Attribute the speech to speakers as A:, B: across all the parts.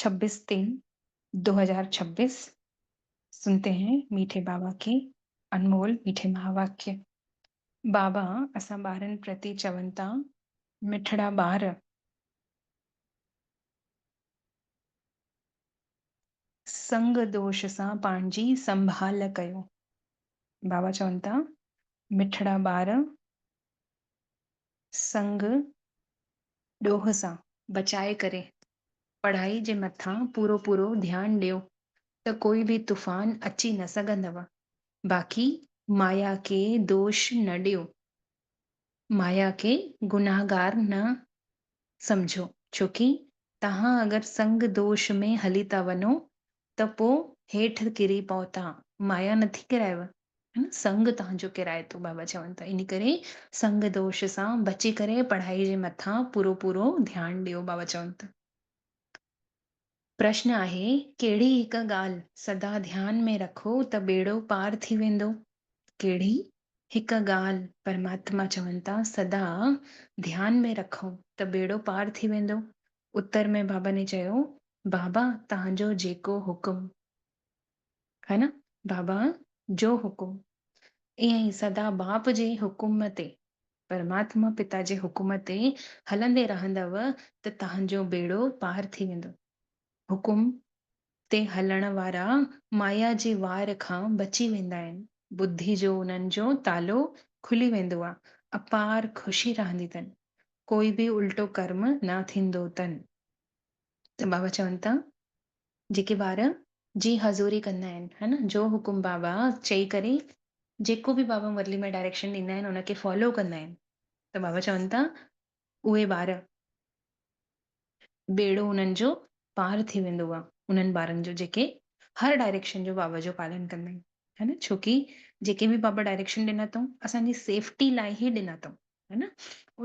A: ڇبيس تين دو هزار ڇبيس سنتي هين ميٺي بابا ڪي انمول ميٺي مهاواڪيه بابا اسان ٻارن پرتي چون ٿا مٺڙا ٻار سنگ دوش سان پنهنجي سنڀال ڪيو بابا چون ٿا مٺڙا ٻار سنگ ڏوهه سان بچائي ڪري پڙهائي جي مٿان پورو پورو ڌيان ڏيو ته ڪوئي به طوفان اچي نه سگهندو باقي مايا کي دوش نه ڏيو مايا کي گنهگار نه سمجهو ڇوڪي تهان اگر سنگ دوش ۾ هلي ٿا وڃو ته پوء هيٺ ڪري پهتا. مايا نٿي ڪرائيو، سنگ تنهنجو ڪرائي ٿو. بابا چون ٿا ان ڪري سنگ دوش سان بچي ڪري پڙهائي جي مٿان پورو پورو ڌيان ڏيو. بابا چون ته پرشن آهي ڪهڙي هڪ ڳالهه سدا ڌيان ۾ رکو ته ٻيڙو پار ٿي ويندو. ڪهڙي هڪ ڳالهه؟ پرماتما چون ٿا سدا ڌيان ۾ رکو ته ٻيڙو پار ٿي ويندو. اتر ۾ بابا ني چيو، بابا تهان جو جيڪو حڪم. ها نه بابا جو حڪم. ائين ئي سدا باپ جي حڪم تي، پرماتما پتا جي حڪم تي هلندي رهندؤ ته تهان جو بيڙو پار ٿي ويندو. حڪم. تي هلڻ وارا مايا جي وار کان بچي ويندا آهن، ٻڌي جو انهن جو تالو کلي ويندو آ، اپار خوشي رهندي تن، ڪوئي به الٽو ڪرم نه ٿيندو تن. ته بابا چون ٿا جيڪي ٻار جي حضوري ڪندا آهن ها نه جو حڪم بابا چئي ڪري جيڪو به بابا مرلي ۾ ڊائريڪشن ڏيندا آهن ان کي فالو ڪندا آهن ته بابا چون ٿا اهي ٻار ٻيڙو انهن جو پار ٿي ويندو آ انهن ٻارن جو جيڪي هر ڊائريڪشن جو بابا جو پالن ڪندا آهن ها نه ڇوڪي جيڪي به بابا ڊائريڪشن ڏنا اٿئون اسان جي سيفٽي لاء ئي ڏنا اٿئون ها نه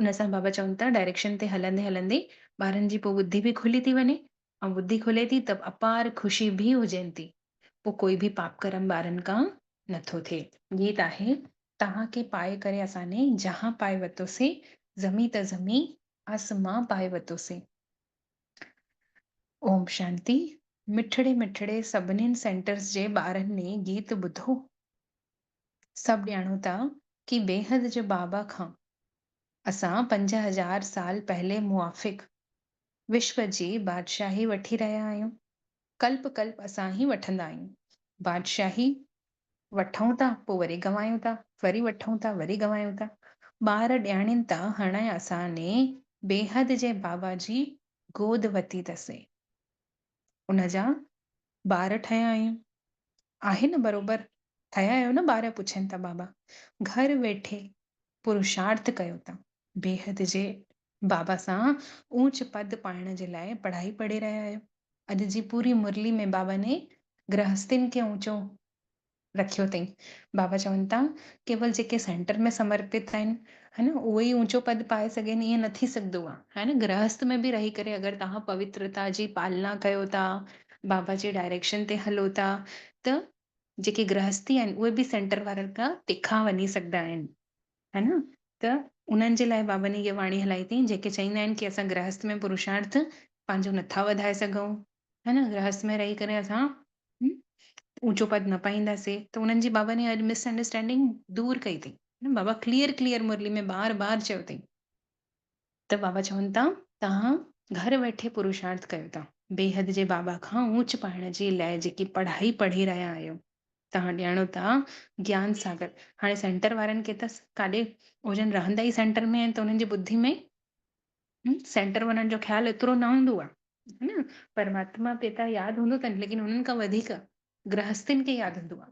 A: ان سان بابا چون ٿا ڊائريڪشن تي هلندي هلندي ٻارن جي پوء ٻڌي به کلي ٿي وڃي ۽ ٻڌي کلي ٿي ته اپار خوشي ڀي هجين ٿي پو ڪوئي ڀي پاپ ڪرم ٻارن ڪان نه ٿو ٿئي. گيت آهي، تهان کي پائي ڪري اسان ني جهان پائي وتو سي، زمين ته زمين آس مان پائي وتو سي. اوم شانتي. مٺڙي مٺڙي سڀنين سينٽرس جي ٻارن ني گيت ٻڌو. سڀ ڄاڻون ٿا ڪي بيحد جي بابا کان اسان پنج هزار سال پهلي موافق وشو جي بادشاهي وٺي رهيا آهيون، ڪلپ ڪلپ اسان ئي وٺندا آهيون. بادشاهي وٺون ٿا پوء وري گنوايون ٿا، وري وٺون ٿا وري گنوايون ٿا. ٻار ڏياڻين ته هڻي اسان ني بيحد جي بابا جي گود وتي ته سي. ان جا ٻار ٺهيا آهيون. آهي نه برابر ٺهيا آهيو نه ٻار پڇين ٿا بابا گهر ويٺي پرشارٿ ڪيو ٿا بيحد جي بابا سان اوچ پد پائڻ جي لاء پڙهائي پڙهي رهيا آهيو اڄ جي پوري مرلي ۾ بابا ني گرهستين کي اوچو رکيو اٿئي. بابا چون ٿا ڪيول جيڪي سينٽر ۾ سمرپت آهن ها نه اهي ئي اوچو پد پائي سگهن ائين نه ٿي سگهندو آهي ها نه گرهست ۾ به رهي ڪري اگر توهان پوترتا جي پالنا ڪيو ٿا بابا جي ڊائريڪشن تي هلو ٿا ته جيڪي گرهستي آهن اهي به سينٽر وارن کان تکا وڃي سگهندا آهن. ها نه ته انهن جي لاء بابن هيء واڻي هلائي اٿئي، جيڪي چئيندا آهن ڪي اسان گرهست ۾ پرشارٿ پنهنجو نه ٿا وڌائي سگهون، ها نه گرهست ۾ رهي ڪري اسان اوچو پد نه پائينداسي ته انهن جي بابن هيء مس انڊرسٽينڊنگ دور ڪئي اٿئي، بابا ڪليئر ڪليئر مرلي ۾ بار بار چيو اٿئي ته بابا چون ٿا، توهان گهر ويٺي پروشارٿ ڪيو ٿا. بيحد جي بابا کان اونچ پائڻ جي لاء جيڪي پڙهائي پڙهي رهيا آهيو، توهان ڄاڻو ٿا گيان ساگر هاڻي سينٽر وارن کي ته ڪاڏي هو جن رهندا ئي سينٽر ۾ آهن ته انهن جي ٻڌي ۾ سينٽر وارن جو خيال ايترو نه هوندو آهي ها نه پرماتما پيتا ياد هوندو اٿن ليڪن انهن کان وڌيڪ گرهستين کي ياد هوندو آهي.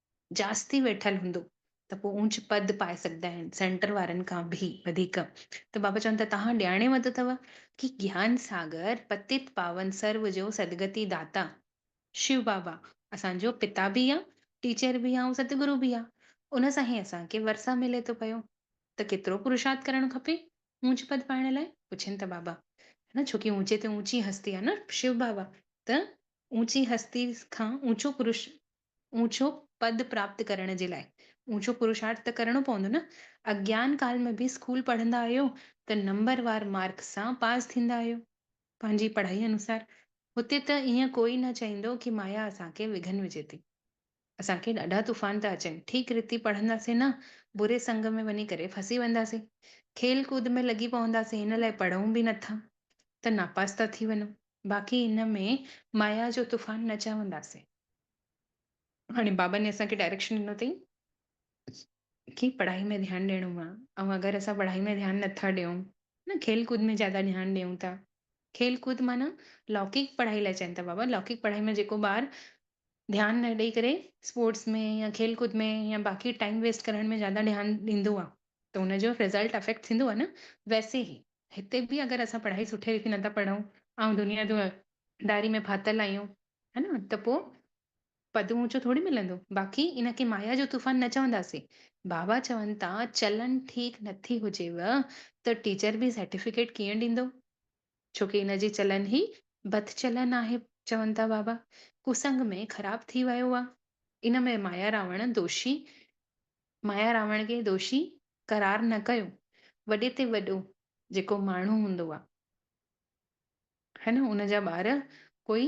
A: جاستي ويٺل هوندو ته پوء اونچ پد پائي سگهندا آهن، سينٽر وارن کان به وڌيڪ. ته بابا چون ٿا توهان ڄاڻي ورتو اٿو ڪي گيان ساگر پتت پاون سرو جو سدگتي داتا شو بابا اسان جو پتا به آ، ٽيچر به آ ۽ ستگرو به آ، ان سان هي اسان کي ورسا ملي ٿو پيو ته ڪيترو پرشارٿ ڪرڻ کپي اونچ پد پائڻ لاء؟ پڇين ٿا بابا نه ڇو ڪي اونچي تي اونچي هستي آ نه شو بابا ته اونچي هستي کان اونچو پرش اوچو پد پراپت ڪرڻ جي لاء اوچو پرشارٿ ته ڪرڻو پوندو نه. اگيان ڪال ۾ به اسڪول پڙهندا آهيو ته نمبر وار مارڪس سان پاس ٿيندا آهيو پنهنجي پڙهائي انوسار. هتي ته ايئن ڪوئي نه چئيندو ڪي مايا اسان کي وگهن وجهي ٿي. اسان کي ڏاڍا طوفان ٿا اچن ٺيڪ رتي پڙهنداسين نه بري سنگ ۾ وڃي ڪري ڦسي وينداسين. کيل ڪود ۾ لڳي پونداسين ان لاء پڙهون به نه ٿا ته ناپاس ٿا ٿي وڃون. باقي ان ۾ مايا جو طوفان نه چونداسين. هاڻي بابن اسان کي ڊائريڪشن ڏنو اٿئي ڪي پڙهائي ۾ ڌيان ڏيڻو آ ۽ اگر اسان پڙهائي ۾ ڌيان نٿا ڏيون نه کيل ڪود ۾ زياده ڌيان ڏيون ٿا کيل ڪود معنيٰ لوڪيڪ پڙهائي لاء چين ٿا بابا لوڪيڪ پڙهائي ۾ جيڪو ٻار ڌيان نه ڏئي ڪري اسپورٽس ۾ يا کيل ڪود ۾ يا باقي ٽائيم ويسٽ ڪرڻ ۾ زياده ڌيان ڏيندو آ ته ان جو رزلٽ افيڪٽ ٿيندو آ نه ويسي هي هتي به اگر اسان پڙهائي سٺي ريتي نٿا پڙهون ۽ دنيا جو داري ۾ ڦاٿل آهيون ها نه ته پو پد اونچو ٿوري ملندو باقي ان کي مايا جو طوفان نه چونداسين بابا چون تا چلن ٺيڪ نٿي هجيو ته ٽيچر به سرٽيفڪيٽ ڪيئن ڏيندو ڇو ڪي ان جي چلن هي بد چلن آهي چون ٿا بابا ڪسنگ ۾ خراب ٿي ويو آ ان ۾ مايا راوڻ دوشي مايا راوڻ کي دوشي قرار نه ڪيو وڏي تي وڏو جيڪو ماڻهو هوندو آ هي نه ان جا ٻار ڪوئي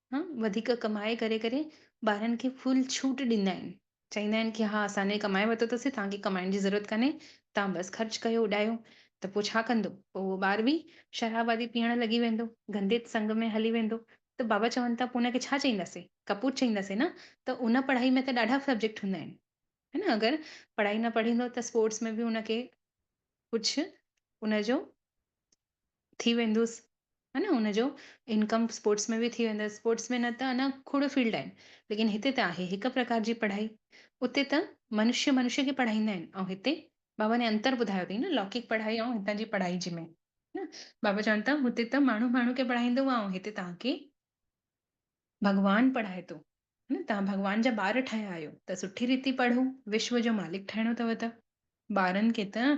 A: ها وڌيڪ ڪمائي ڪري ڪري ٻارن کي فل ڇوٽ ڏيندا آهن چئيندا آهن ڪي ها اسان ني ڪمائي ورتو تسي توهان کي ڪمائڻ جي ضرورت ڪانهي توهان بس خرچ ڪيو اڏايو ته پو ڇا ڪندو پو اهو ٻار به شراب آدي پيئڻ لڳي ويندو گندي سنگ ۾ هلي ويندو ته بابا چون ٿا پو ان کي ڇا چئينداسي ڪپوت چئينداسي نه ته ان پڙهائي ۾ ته ڏاڍا سبجيڪٽ هوندا آهن ها نه اگر پڙهائي نه پڙهيندو ته اسپورٽس ۾ به ان کي ڪجهه ان جو ٿي ويندوس ها نه ان جو انڪم اسپورٽس ۾ به ٿي ويندس اسپورٽس ۾ نه ته انا کوڙ فيلڊ آهن ليڪن هتي ته آهي هڪ پرڪار جي پڙهائي اتي ته منشي منشي کي پڙهائيندا آهن ۽ هتي بابا ني انتر ٻڌايو اٿئي نه لوڪڪ پڙهائي ۽ هتان جي پڙهائي جي ۾ نه بابا چون ٿا هتي ته ماڻهو ماڻهو کي پڙهائيندو هو ۽ هتي توهان کي ڀڳوان پڙهائي ٿو نه توهان ڀڳوان جا ٻار ٺهيا آهيو ته سٺي ريتي پڙهو وشو جو مالڪ ٺهڻو اٿو ته ٻارن کي ته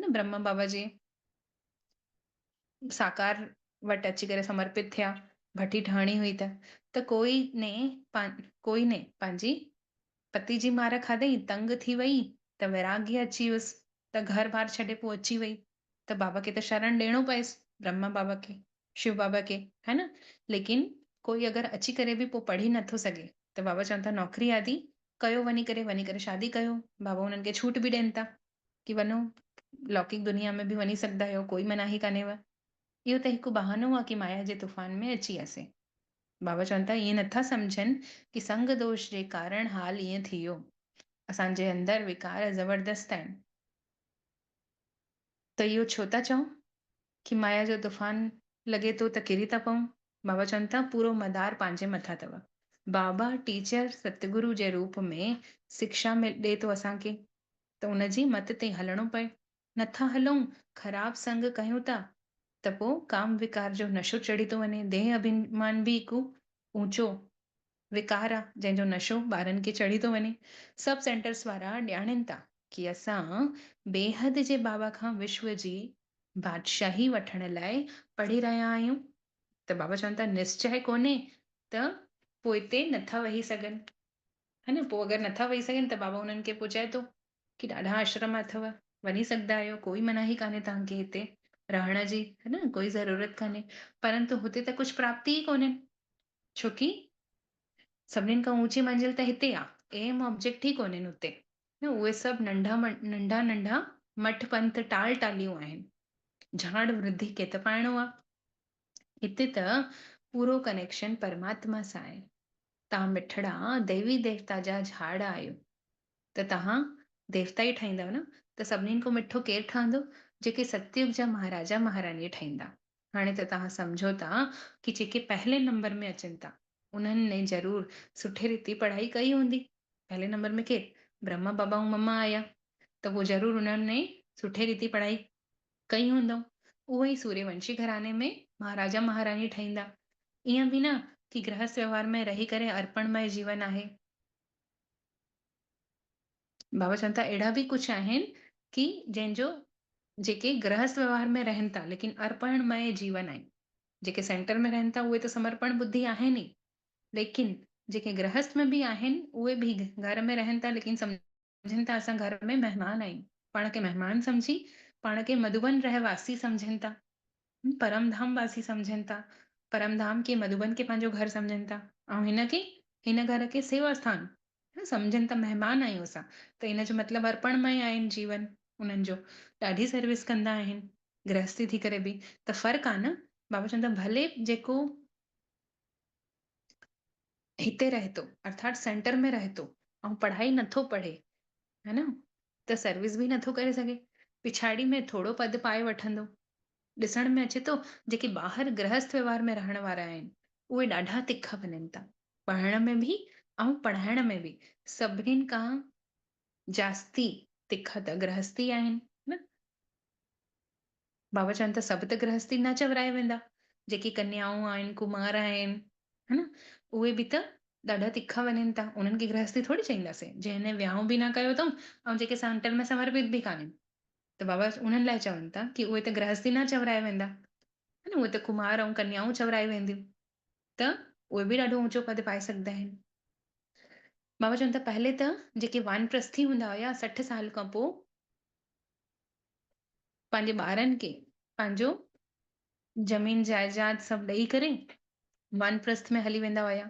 A: نه برهما بابا جي ساڪار وٽ اچي ڪري سمرپت ٿيا. ڀٽي ٺهڻي هئي ته، ته ڪوئي ني پان ڪوئي ني پنهنجي پتي جي مار کاڌئي، تنگ ٿي وئي ته ويراڳي اچي ويس، ته گهر بار ڇڏي پوء اچي وئي ته بابا کي ته شرڻ ڏيڻو پيس، برهما بابا کي، شو بابا کي، ها نه، ليڪن ڪوئي اگر اچي ڪري به پوء پڙهي نه ٿو سگهي ته بابا چون ٿا نوڪري آدي ڪيو وڃي ڪري، وڃي ڪري شادي ڪيو، بابا انهن کي ڇوٽ به ڏين ٿا، ڪي وڃو لوڪيڪ دنيا ۾ به وڃي سگهدا آهيو ڪوئي مناهي ڪانهيو اهو ته هڪ بهانو آهي ڪي مايا جي طوفان ۾ اچي اسين بابا چون ٿا ائين نٿا سمجهن ڪي سنگ دوش جي ڪارڻ حال ائين ٿيو اسان جي اندر وڪار زبردست آهن ته اهو ڇو ٿا چئون ڪي مايا جو طوفان لڳي ٿو ته ڪري ٿا پئون بابا چون ٿا پورو مدار پنهنجي مٿان اٿو بابا ٽيچر ستگرو جي روپ ۾ سکشا ڏي ٿو اسان کي ته ان جي مت تي هلڻو پئي. نٿا هلون، خراب سنگ ڪيون ٿا ته پوء ڪام وڪار جو نشو چڙهي ٿو وڃي. ديهه اڀيمان به هڪ اوچو وڪار آ جنهن جو نشو ٻارن کي چڙهي ٿو وڃي. سب سينٽرس وارا ڄاڻين ٿا ڪي اسان بيحد جي بابا کان وشو جي بادشاهي وٺڻ لاء پڙهي رهيا آهيون ته بابا چون ٿا نسچه ڪونهي ته پوئتي نٿا وهي سگهن. ها نه پوء اگر نٿا ويهي سگهن ته بابا انهن کي پوء چئي ٿو ڪي ڏاڍا آشرم اٿو وڃي سگهدا آهيو ڪوئي مناهي ڪانهي توهان کي هتي رهڻ جي ها نه ڪوئي ضرورت ڪانهي پرنتو هتي ته ڪجهه پراپتي ئي ڪونهين ڇو ڪي سڀنين کان اوچي منزل ته هتي آ اهم آبجيڪٽ ئي ڪونهين هتي نه اهي سڀ ننڍا ننڍا ننڍا مٺ پنٿ ٽال ٽاليون آهن جهاڙ وڌي ڪيت پائڻو آ هتي ته پورو ڪنيڪشن پرماتما سان آهي تان مٺڙا ديوي ديوتا جا جھاڙ آھيو ته تهان ديوتا ئي ٺاهيندؤ نه ته سڀنين کان مٺو ڪير ٺهندو جيڪي ستيوگ جا مهاراجا مهاراڻي ٺهيندا هاڻي ته تهان سمجهو ٿا ڪي جيڪي پهلي نمبر ۾ اچن ٿا انهن ني ضرور سٺي ريتي پڙهائي ڪئي هوندي پهلي نمبر ۾ ڪير برهما بابا ۽ مما آيا ته پوء ضرور انهن ني سٺي ريتي پڙهائي ڪئي هوندئون، اهو ئي سوريونشي گهراڻي ۾ مهاراجا مهاراڻي ٺهيندا. ائين به نه ڪي گرهست ويوهار ۾ رهي ڪري ارپڻ مئي جيون آهي. بابا چون ٿا اهڙا به ڪجهه آهن ڪي جن جو جيڪي گرهست ويوهار ۾ رهن ٿا ليڪن ارپڻ مئي جيون آهن. جيڪي سينٽر ۾ رهن ٿا اهي ته سمرپڻ ٻڌي آهن ئي ليڪن جيڪي گرهست ۾ به آهن اهي به گهر ۾ رهن ٿا ليڪن سمجهن سمجهن ٿا اسان گهر ۾ مهمان آهيون پاڻ کي مهمان سمجهي پاڻ کي مڌوبن رهواسي سمجهن ٿا پرم ڌام واسي سمجهن ٿا پرم ڌام کي مڌوبن کي پنهنجو گهر سمجهن ٿا ۽ هن کي هن گهر کي سيوا سٿان سمجهن ٿا مهمان آهيون اسان ته ان جو مطلب ارپڻ مئي آهن جيون انهن جو ڏاڍي سروس ڪندا آهن گرهستي ٿي ڪري به ته فرق آهي نه بابا چون ٿا ڀلي جيڪو هتي رهي ٿو ارٿات سينٽر ۾ رهي ٿو ۽ پڙهائي نٿو پڙهي ها نه ته سروس به نٿو ڪري سگهي پڇاڙي ۾ ٿورو پد پائي وٺندو ڏسڻ ۾ اچي ٿو جيڪي ٻاهر گرهست ويوهار ۾ رهڻ وارا آهن اهي ڏاڍا تکا وڃن ٿا پڙهڻ ۾ به ۽ پڙهائڻ ۾ به سڀنين کان جاستي تکا ته گرهستي آهن نه بابا چون ته سڀ ته گرهستي نه چورايا ويندا، جيڪي ڪنيائون آهن، ڪمار آهن، ها نه، اهي به ته ڏاڍا تکا وڃن ٿا، انهن کي گرهستي ٿوري چئينداسين، جنهن نه ويانهون به نه ڪيو اٿئون ۽ جيڪي سانتن ۾ سمرپت به ڪانهن. ته بابا انهن لاء چون ٿا ڪي اهي ته گرهستي نه چورايا ويندا، ها نه، اهي ته ڪمار ۽ ڪنيائون چورائيون وينديون، ته اهي به ڏاڍو اونچو پد پائي سگهندا آهن. بابا چون ٿا پهرين ته جيڪي وانپرسٿي هوندا هيا سٺ سال کان پوء پنهنجي ٻارن کي پنهنجو زمين جائداد سڀ ڏئي ڪري وانپرست ۾ هلي ويندا هيا.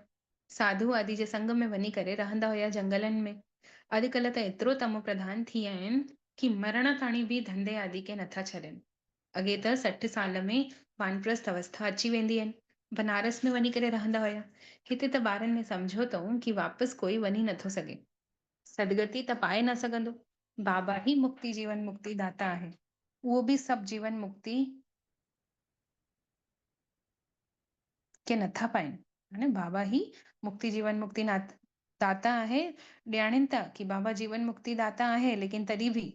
A: ساڌو آدي جي سنگ ۾ وڃي ڪري رهندا هيا جنگلن ۾. اڄڪلهه ته ايترو تمو پرڌان ٿي ويا آهن ڪي مرڻ تاڻي به ڌنڌي آدي کي نٿا ڇڏين. اڳي ته سٺ سال ۾ وانپرست اوسٿا اچي ويندي هئن. بنارس ۾ وڃي ڪري رهندا هيا. هتي ته ٻارن ۾ سمجهوتو ڪي واپس ڪوئي وڃي نٿو سگهي. سدگتي ته پائي نه سگهندو. بابا ئي مڪتي جيون مڪتي داتا آهي. اهو به سڀ جيون مڪتي کي نٿا پائين. يعني بابا ئي مڪتي جيون مڪتي داتا آهي. ڏياڻين ته ڪي بابا جيون مڪتي داتا آهي ليڪن تڏهن به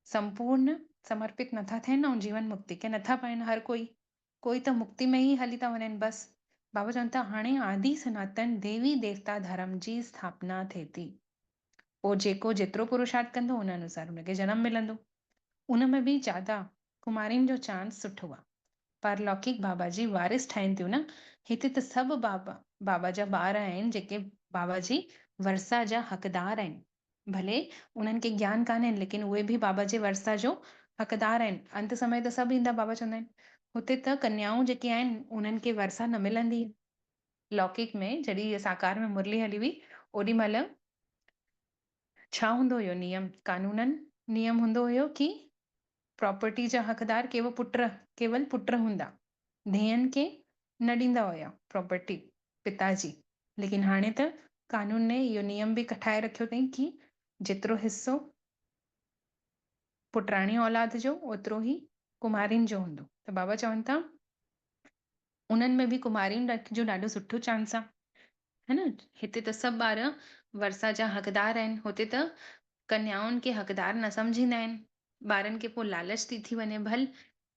A: سمپورن سمرپت نٿا ٿين ۽ جيون مڪتي کي نٿا پائين. هر ڪوئي ڪوئي ته مڪتي ۾ ئي هلي ٿا وڃن بس. بابا چون ٿا هاڻي آدي سناتن ديوي ديوتا ڌرم جي اسٿاپنا ٿئي ٿي. پوء جيڪو جيترو پروشارٿ ڪندو ان انوسار ان کي جنم ملندو. ان ۾ به جادا ڪمارين جو چانس سٺو آ. پارلوڪيڪ بابا جي وارث ٺهين ٿيون نه. هتي ته سڀ بابا بابا جا ٻار آهن جيڪي بابا جي ورثه جا حقدار آهن. ڀلي انهن کي گيان ڪانهين ليڪن اهي به بابا جي ورثه جو حقدار آهن. انت سمي ته سڀ ايندا بابا چوندا آهن. هتي ته ڪنيائون جيڪي آهن انهن کي ورثه نه ملندي. لوڪڪ ۾ جڏهن ساڪار ۾ مرلي هلي هئي اوڏي مهل ڇا هوندو هيو نيم قانونن نيم هوندو هيو ڪي پراپرٽي جا حقدار ڪيو پٽ ڪيول پٽ هوندا. ڌيئن کي نه ڏيندا هيا پراپرٽي پتا جي. ليڪن هاڻي ته قانون نئين اهو نيم به ڪٺائي رکيو اٿئين ڪي جيترو حصو پٽراڻي اولاد جو اوترو هي ڪنوارين جو هوندو. ته بابا چون ٿا. انهن ۾ به ڪنوارين رکي جو ڏاڍو سٺو چانس آ ها نه هتي ته سڀ ٻار ورسا جا حقدار آهن هتي ته ڪنيائن کي حقدار نه سمجهيندا آهن ٻارن کي پو لالچ ٿي ٿي وڃي ڀل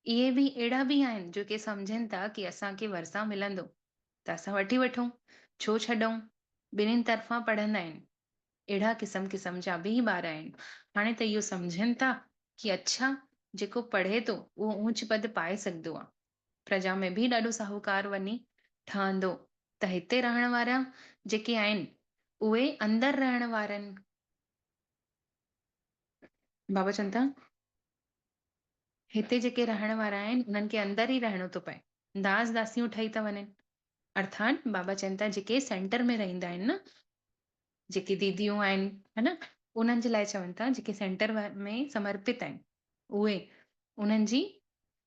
A: اهي به اهڙا به آهن جو ڪي سمجهين ٿا ڪي اسان کي ورسا ملندو ته اسان وٺي وٺون ڇو ڇڏئون ٻنهين طرفان پڙهندا آهن اهڙا قسم قسم جا به ٻار آهن هاڻي ته اهو سمجهين ٿا ڪي اڇا جيڪو پڙهي ٿو اهو اونچ پد پائي سگهدو آ پرجا ۾ به ڏاڍو ساهوڪار وڃي ٺهندو ته هتي رهڻ وارا جيڪي آهن اهي اندر رهڻ وارن بابا چون ٿا هتي جيڪي رهڻ وارا آهن انهن کي اندر ئي رهڻو ٿو پئي داس داسيون ٺهي ٿا وڃن ارٿات بابا چون ٿا جيڪي سينٽر ۾ رهندا آهن نه جيڪي ديديون آهن ها نه انهن جي لاء چون ٿا جيڪي سينٽر ۾ سمرپت آهن اهي انهن جي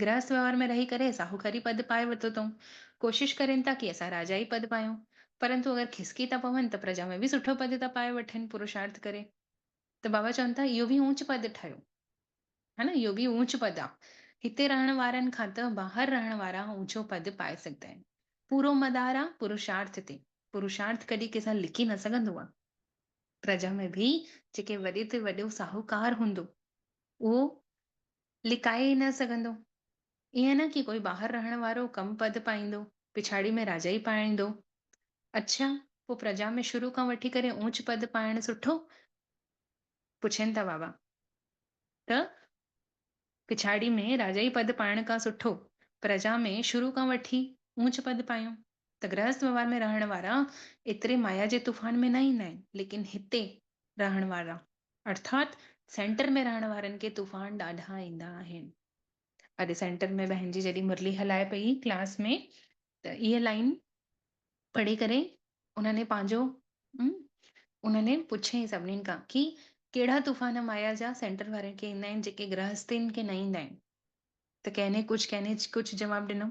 A: گرهست وهنوار ۾ رهي ڪري ساهوڪاري پد پائي ورتو اٿئون. ڪوشش ڪرين ٿا ڪي اسان راجائي پد پايون. پرنتو اگر کسڪي ٿا پون ته پرجا ۾ به سٺو پد ٿا پائي وٺن پروشارٿ ڪري. ته بابا چون ٿا اهو به اونچ پد ٺهيو. ها نه اهو به اونچ پد آ. هتي رهڻ وارن کان ته ٻاهر رهڻ وارا اونچو پد پائي سگهندا آهن. پورو مدار آ پروشارٿ تي. پروشارٿ ڪڏهن ڪنهن سان لڪي نه سگهندو آ. پرجا ۾ به جيڪي وڏي تي وڏو ساهوڪار هوندو اهو لڪائي ئي نه سگهندو. ائين نه ڪي ڪوئي ٻاهر رهڻ وارو ڪم پد پائيندو، پڇاڙي ۾ راجائي پائيندو. اڇا، پوء پرجا ۾ شروع کان وٺي ڪري اوچ پد پائڻ سٺو؟ پڇين ٿا بابا ته پڇاڙي ۾ راجائي پد پائڻ کان سٺو پرجا ۾ شروع کان وٺي اوچ پد پايون ته گرهست وهنوار ۾ رهڻ وارا ايتري مايا جي طوفان ۾ نه ايندا آهن ليڪن هتي رهڻ وارا ارٿات سينٽر ۾ رهڻ وارن کي طوفان ڏاڍا ايندا آهن. اڄ سينٽر ۾ بهنجي جڏهن مرلي هلائي پئي ڪلاس ۾ ته اهي لائين پڙهي ڪري انهني پنهنجو انهني پڇيائين سڀنين کان ڪي ڪهڙا طوفان مايا جا سينٽر وارن کي ايندا آهن جيڪي گرهستين کي نه ايندا آهن ته ڪنهن ڪجهه ڪنهن ڪجهه جواب ڏنو.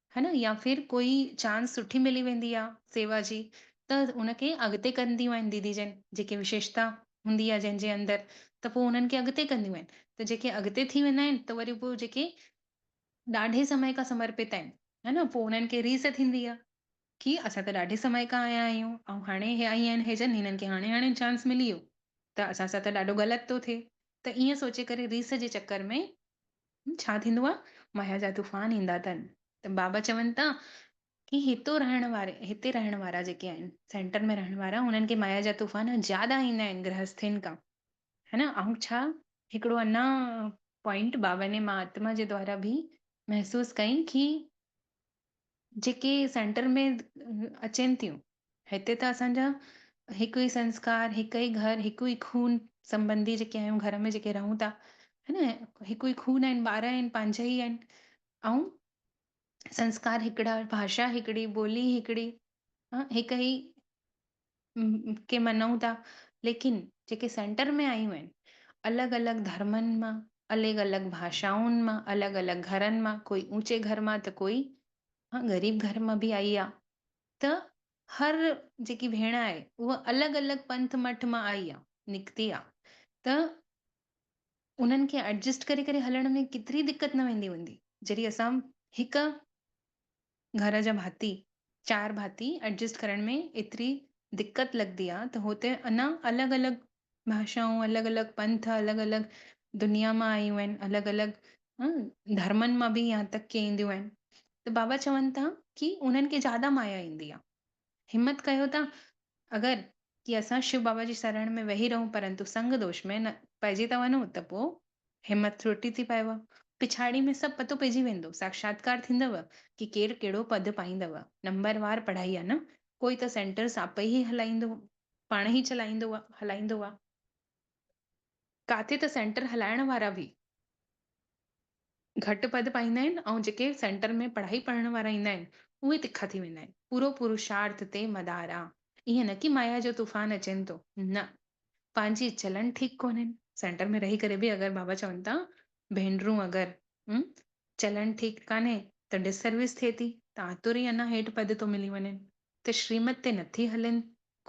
A: ها نه يا ڦر ڪوئي چانس سٺي ملي ويندي آ سيوا جي ته ان کي اڳتي ڪنديون آهن ديدي جن جيڪي وشيشتا هوندي آ جنهن جي اندر ته پوء انهن کي اڳتي ڪنديون آهن ته جيڪي اڳتي ٿي ويندا آهن ته وري پوء جيڪي ڏاڍي سمي کان سمرپت آهن ها نه پوء انهن کي ريس ٿيندي آ ڪي اسان ته ڏاڍي سمي کان آيا آهيون ۽ هاڻي هي آئي آهن هي جن هنن کي هاڻي هاڻي چانس ملي ويو ته اسان سان ته ڏاڍو غلط ٿو ٿئي ته ائين سوچي ڪري ريس جي چڪر ۾ ڇا ٿيندو آ؟ مايا جا طوفان ايندا تن ته بابا چون ٿا ڪي هتو رهڻ واري هتي رهڻ وارا جيڪي آهن سينٽر ۾ رهڻ وارا انهن کي مايا جا طوفان زياده ايندا آهن گرهسٿين کان ها نه ائون ڇا هڪڙو انا پوائنٽ بابا ني مان آتما جي دوارا به محسوس ڪئين ڪي جيڪي سينٽر ۾ اچين ٿيون هتي ته اسان جا هڪ ئي سنسڪار هڪ ئي گهر هڪ ئي خون سمبنڌي جيڪي آهيون گهر ۾ جيڪي رهون ٿا هن هڪ ئي خون آهن ٻار آهن پنهنجا ئي آهن ۽ سنسڪار هڪڙا ڀاشا هڪڙي ٻولي هڪڙي هڪ ئي کي مڃون ٿا ليڪن جيڪي سينٽر ۾ آيون آهن الڳ الڳ ڌرمن مان الڳ الڳ ڀاشائن مان الڳ الڳ گھرن مان ڪوئي اوچي گھر مان ته ڪوئي ها غريب گھر مان به آئي آ ته هر جيڪي ڀيڻ آهي اها الڳ الڳ پنٿ مٺ مان آئي آ نڪتي آ ته انهن کي ايڊجسٽ ڪري ڪري هلڻ ۾ ڪيتري دقت نه ويندي هوندي جڏهن اسان هڪ گهر جا ڀاتي، چار ڀاتي، ايڊجسٽ ڪرڻ ۾ ايتري دقت لڳندي آ ته هو ته اڃا الڳ الڳ ڀاشائون، الڳ الڳ پنٿ، الڳ الڳ دنيا مان آيون آهن، الڳ الڳ ڌرمن مان به يهان تڪ ڪي اينديون آهن ته بابا چون ٿا ڪي انهن کي زياده مايا ايندي آ. همت ڪيو ته اگر جي اسان شو بابا جي سرڻ ۾ ويهي رهون پرنتو سنگ دوش ۾ نه پئجي ٿا وڃون ته پوء همت ٿرٽي ٿي پئيو. پڇاڙي ۾ سڀ پتو پئجي ويندو. ساکشاتڪار ٿيندو ڪي ڪير ڪهڙو پد پائيندو. نمبر وار پڙهائي آ نه. ڪوئي ته سينٽرس آپئي هي هلائيندو پاڻ هي چلائيندو هلائيندو آ. ڪاٿي ته سينٽر هلائڻ وارا به گهٽ پد پائيندا آهن ۽ جيڪي سينٽر ۾ پڙهائي پڙهڻ وارا ايندا آهن اهي تکا ٿي ويندا آهن. پورو پروشارٿ تي مدار آ. ائين نه ڪي مايا جو طوفان اچين ٿو. نه. پنهنجي چلن ٺيڪ ڪونهن. سينٽر ۾ رهي ڪري به اگر بابا چون ٿا ڀينرون اگر م چلن ٺيڪ ڪانهي ته ڊس سروس ٿئي ٿي ته آتو ري انا هيٺ پد ٿو ملي وڃين. ته شريمت تي نٿي هلين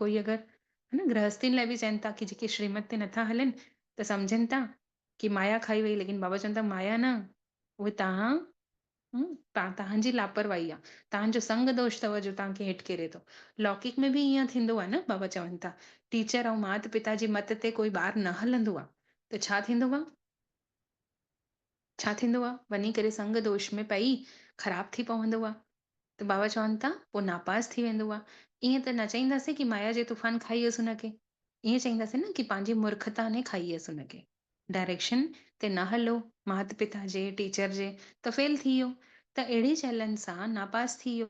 A: ڪوئي اگر هن گرهستين لاء به چين ٿا ڪي جيڪي شريمت تي نٿا هلين ته سمجهن ٿا ڪي مايا کائي وئي ليڪن بابا چون ٿا مايا نه اهي توهان توهان توهان جي لاپرواهي آ توهان جو سنگ دوش ٿو جو توهان کي هيٺ ڪيري ٿو لوڪيڪ ۾ به ايئن ٿيندو آ نه بابا چون ٿا ٽيچر ۽ مات پتا جي مت تي ڪوئي ٻار نه هلندو آ ته ڇا ٿيندو آ ڇا ٿيندو آ؟ وڃي ڪري سنگ دوش ۾ پئي خراب ٿي پوندو آ ته بابا چون ٿا پوء ناپاس ٿي ويندو آ. ائين ته نه چئينداسين ڪي مايا جي طوفان کائي ويس ان کي. ائين چئينداسين نه ڪي پنهنجي مورکتا ني کائي ويس ان کي. ڊائريڪشن تي نه هلو مات پتا جي، ٽيچر جي ته فيل ٿي ويو ته اهڙي چئلن سان ناپاس ٿي ويو.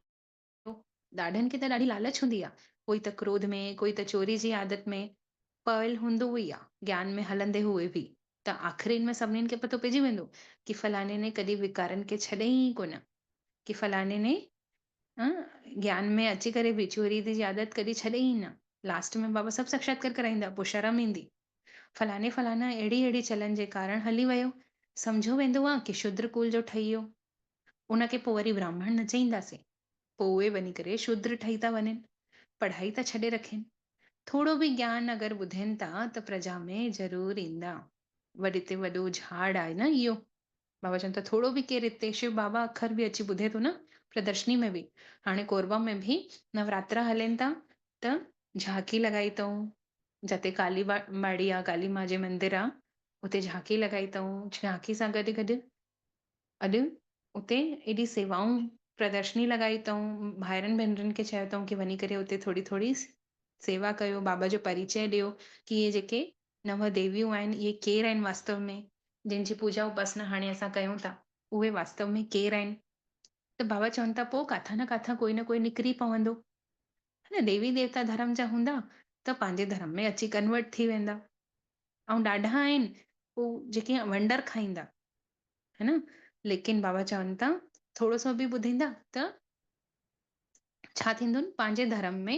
A: ڏاڍن کي ته ڏاڍي لالچ هوندي آ، ڪوئي ته ڪروڌ ۾، ڪوئي ته چوري جي عادت ۾ پويل هوندو ئي آ، گيان ۾ هلندي هوئي به ته آخرين ۾ سڀنين کي پتو پئجي ويندو ڪي فلاڻي ني ڪڏهن ويڪارن کي ڇڏيائين ئي ڪونه، ڪي فلاڻي ني گيان ۾ اچي ڪري به چوري دي جي عادت ڪڏهن ڇڏيائين ئي نه، لاسٽ ۾ بابا سڀ ساکشاتڪار ڪرائيندا پوء شرم ايندي، فلاڻي فلاڻا اهڙي اهڙي چلن جي ڪارڻ هلي ويو، سمجهيو ويندو آ ڪي شودر ڪول جو ٺهي ويو، ان کي پوء وري براهمڻ نه چئينداسين. پوء اهي وڃي ڪري شودر ٺهي ٿا وڃن. پڙهائي ٿا ڇڏي رکين. ٿورو به گيان اگر ٻڌين ٿا ته پرجا ۾ ضرور ايندا. وڏي تي وڏو جهاڙ آهي نه اهو. بابا چون ٿا ٿورو به ڪير هتي شو بابا اکر به اچي ٻڌي ٿو نه پردرشني ۾ به. هاڻي ڪوربا ۾ به نوراترا هلين ٿا ته جهاڪي لڳائي اٿئون. جتي ڪالي ٻاڙي آ ڪالي ماء جي مندر آ اتي جهاڪي لڳائي اٿئون. جهاڪي سان گڏ گڏ اڄ اتي ايڏي سيوائون پردرشني لڳائي اٿئون، ڀائرن ڀينرن کي چيو اٿئون ڪي وڃي ڪري اتي ٿوري ٿوري سيوا ڪيو، بابا جو پريچئه ڏيو ڪي اهي جيڪي نو ديويون آهن اهي ڪير آهن واستو ۾، جن جي پوڄا اپاسنا هاڻي اسان ڪيون ٿا اهي واستو ۾ ڪير آهن، ته بابا چون ٿا پوء ڪاٿان نه ڪاٿان ڪوئي نه ڪوئي نڪري پوندو ها نه ديوي ديوتا ڌرم جا هوندا ته پنهنجي ڌرم ۾ اچي ڪنورٽ ٿي ويندا، ائون ڏاڍا آهن هو جيڪي ونڊر کائيندا ها نه ليڪن بابا چون ٿا ٿورو سو به ٻڌيندا ته ڇا ٿيندون پنهنجي ڌرم ۾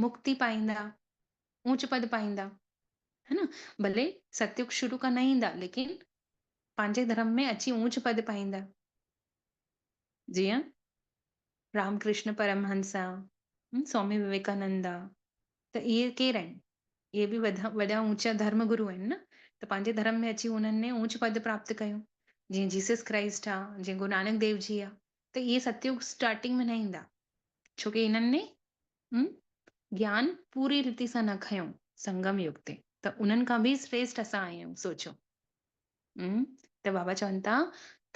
A: مڪتي پائيندا اونچ پد پائيندا ها نه ڀلي ستيوڪ شروع کان نه ايندا ليڪن پنهنجي ڌرم ۾ اچي اونچ پد پائيندا جيئن رام ڪرشن پرمهنس سوامي وويڪانندا ته اهي ڪير آهن؟ اهي به وڏا اوچا ڌرم گرو آهن نه، ته پنهنجي ڌرم ۾ اچي انهن ني اوچ پد پراپت ڪيو، جيئن جيسس ڪرائسٽ آ، جيئن گرو نانڪ ديو جي آ، ته اهي ستيوگ اسٽارٽنگ ۾ نه ايندا، ڇو ڪي انهن ني گيان پوري ريتي سان نه کنيو سنگم يگ تي، ته انهن کان به سريسٽ اسان آهيون، سوچو ته بابا چون ٿا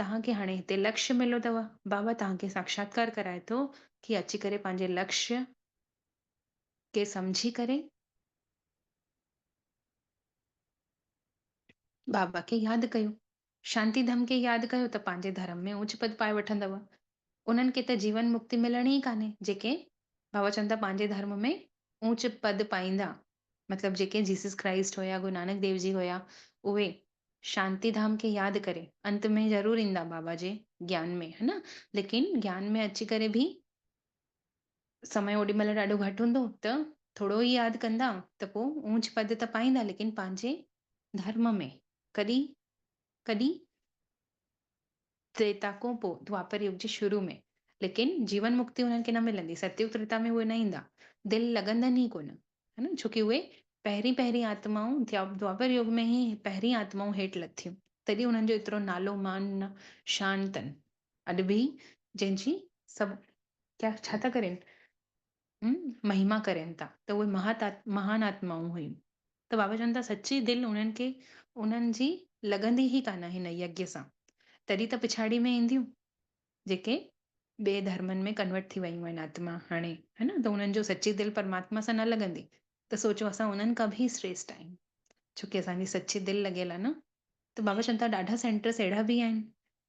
A: توهان کي هاڻي هتي لڪش مليو اٿو، بابا توهان کي ساکشاتڪار ڪرائي ٿو ڪي اچي ڪري پنهنجي لڪش کي سمجهي ڪري بابا کي ياد ڪيو. شانتي ڌم کي ياد ڪيو ته پنهنجي ڌرم ۾ اوچ پد پائي وٺندؤ. انهن کي ته جيون مڪتي ملڻي ئي ڪانهي جيڪي بابا چون ٿا پنهنجي ڌرم ۾ اوچ پد پائيندا مطلب جيڪي جيسس ڪرائسٽ هيا گرو نانڪ ديو جي هيا اهي شانتي ڌام کي ياد ڪري انت ۾ ضرور ايندا بابا جي گيان ۾ هن ليڪن گيان ۾ اچي ڪري به سمي اوڏي مھل ڏاڍو گھٽ ھوندو ته ٿورو ئي ياد ڪندا ته پوء اونچ پد ته پائيندا ليڪن پنھنجي ڌرم ۾ ڪڏھن ڪڏھن تريتا کون پوء دوآپر يگ جي شروع ۾ ليڪن جيون مڪتي انھن کي نه ملندي ستيوگ تريتا ۾ اھي نه ايندا دل لڳندن ئي ڪونه ھن ڇو ڪي اھي پهرين پهرين آتمائون دوآپر يگ ۾ ھي پهرين آتمائون ھيٺ لٿيون تڏھن انھن جو ايترو نالو مان نه شان تن اڄ به جنهن جي سڀ ڪيا ڇا ٿا ڪرين؟ هم مهما ڪرين ٿا ته اهي مهان آتمائون هيون. ته بابا چون ٿا سچي دل انهن کي انهن جي لڳندي ئي ڪانه هن يگيا سان. تڏهن ته پڇاڙي ۾ اينديون جيڪي ٻئي ڌرمن ۾ ڪنورٽ ٿي ويون آهن آتما هاڻي ها نه ته انهن جو سچي دل پرماتما سان نه لڳندي ته سوچو اسان انهن کان به سريسٽ آهيون. ڇو ڪي اسان جي سچي دل لڳيل آهي نه. ته بابا چون ٿا ڏاڍا سينٽرس اهڙا به آهن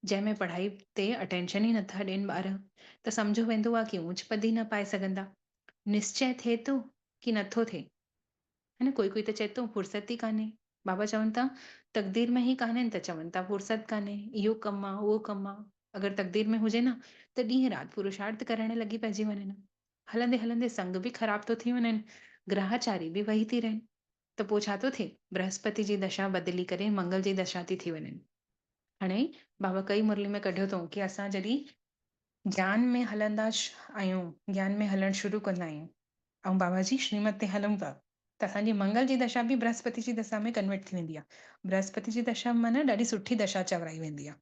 A: جنهن ۾ پڙهائي تي اٽينشن ئي نٿا ڏين ٻار ته سمجهيو ويندو آهي ڪي اونچ پد ئي نه پائي سگهندا. نسچئه ٿئي ٿو ڪي نٿو ٿئي. ها نه ڪوئي ڪوئي ته چئي ٿو فرصت ئي ڪانهي. بابا چون ٿا تقدير ۾ هي ڪانهن ته چون ٿا فرصت ڪانهي، اهو ڪم آ، اهو ڪم آ. اگر تقدير ۾ هجي نه ته ڏينهن رات پروشارٿ ڪرڻ لڳي پئجي وڃن ها. هلندي هلندي سنگ به خراب ٿو ٿي وڃن، گراهچاري به وهي ٿي رهن. ته پوء ڇا ٿو ٿئي؟ برهسپتي جي دشا بدلي ڪري منگل جي دشا ٿي ٿي وڃن. هاڻي بابا ڪئي مرلي ۾ ڪڍيو اٿئون ڪي اسان جڏهن گيان ۾ هلندا آهيون، گيان ۾ هلڻ شروع ڪندا آهيون ۽ بابا جي شريمت تي هلون ٿا ته اسان جي منگل جي دشا به برهسپتي جي دشا ۾ ڪنورٽ ٿي ويندي آهي. برهسپتي جي دشا معنيٰ ڏاڍي سٺي دشا چورائي ويندي آهي.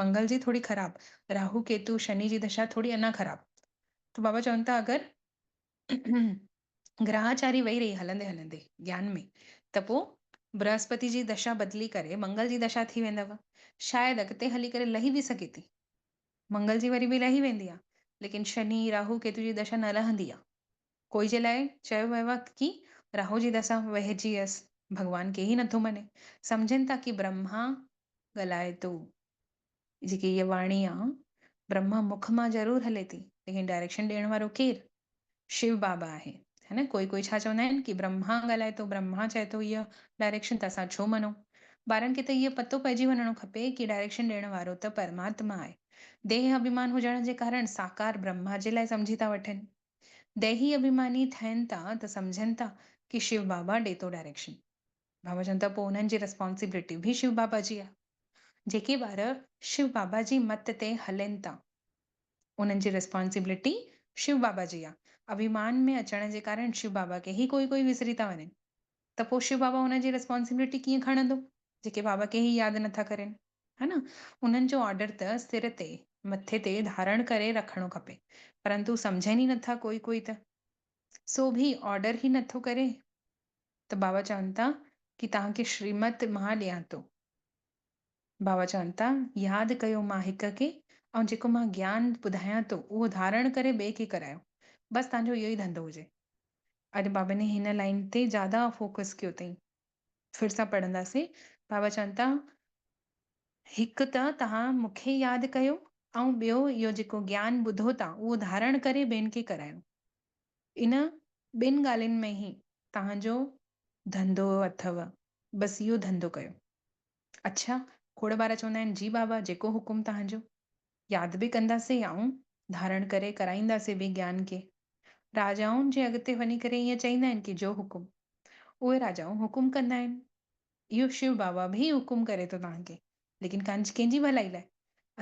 A: منگل جي ٿوري خراب، راهو، ڪيتو، شني جي دشا ٿوري اڃا خراب ته بابا چون ٿا اگر گرهاچاري وئي رهي هلندي هلندي گيان ۾ ته پوء برهسپتي جي دشا بدلي ڪري منگل جي دشا ٿي ويندو. شايد اڳتي هلي ڪري لهي به سگهي ٿي. منگل جي وري به لهي ويندي آ. ليڪن شني، راهو، ڪيتو جي دشا نه لهندي آ. ڪوئي جي لاء چيو ويو آ ڪي راهو جي دسا وهجي هيس. ڀڳوان ڪي ئي نٿو مڃي. سمجهن ٿا ڪي برهما ڳالهائي ٿو. جيڪي هيء واڻي آ، برهما مک مان ضرور هلي ٿي، ليڪن ڊائريڪشن ڏيڻ وارو ڪير؟ شو بابا آهي. ها نه، ڪوئي ڪوئي ڇا چوندا آهن ڪي برهما ڳالهائي ٿو، برهما چئي ٿو هيء ڊائريڪشن ته اسان ڇو مڃون؟ ٻارن کي ته هيء پتو پئجي وڃڻو کپي ڪي ڊائريڪشن ڏيڻ وارو ته پرماتما آهي. ديهه اڀيمان هجڻ جي ڪارڻ ساڪار برهما جي لاء سمجهي ٿا وٺن. ديهي اڀيماني ٿين ٿا ته سمجهن ٿا ڪي شو بابا ڏي ٿو ڊائريڪشن. بابا چون ته پوء انهن جي ريسپانسبلٽي به شو بابا جي آ. جيڪي ٻار شو بابا جي مت تي هلين ٿا انهن جي ريسپانسبلٽي شو بابا جي آ. اڀيمان ۾ اچڻ جي ڪارڻ شو بابا کي هي ڪوئي ڪوئي وسري ٿا وڃن ته پوء شو بابا انهن جي ريسپانسبلٽي ڪيئن کڻندو جيڪي بابا کي هي ياد نٿا ڪرين. ها نه انهن جو آرڊر ته سر تي، مٿي تي ڌارڻ ڪري رکڻو کپي پرنتو سمجهن ئي نٿا ڪوئي ڪوئي ته سو به آرڊر ئي نٿو ڪري. ته بابا چون ٿا ڪي توهان کي شريمت مان ڏيان ٿو. بابا چون ٿا ياد ڪيو مان هڪ کي ۽ جيڪو مان گيان ٻڌايان ٿو اهو ڌارڻ ڪري ٻئي کي ڪرايو. بس توهان جو اهو ئي ڌنڌو هجي. اڄ بابا ني هن لائين تي زياده فوڪس ڪيو اٿئين. ڦر سان پڙهنداسين. بابا چون ٿا هڪ ته توهان مون کي ياد ڪيو ۽ ٻيو اهو جيڪو گيان ٻڌو ٿا اهو ڌارڻ ڪري ٻين کي ڪرايو. ان ٻن ڳالهين ۾ ئي توهانجو ڌنڌو اٿو بس اهو ڌنڌو ڪيو. اڇا کوڙ ٻار چوندا آهن جي بابا جيڪو حڪم توهانجو. ياد به ڪنداسين آئون ڌارڻ ڪري ڪرائينداسين به گيان کي. راجائن جي اڳتي وڃي ڪري ائين چئيندا آهن ڪي جو حڪم. اهي راجائون حڪم ڪندا آهن. اهو شو بابا به حڪم ڪري ٿو توهانکي ليڪن ڪنج ڪنهن جي ڀلائي لاء؟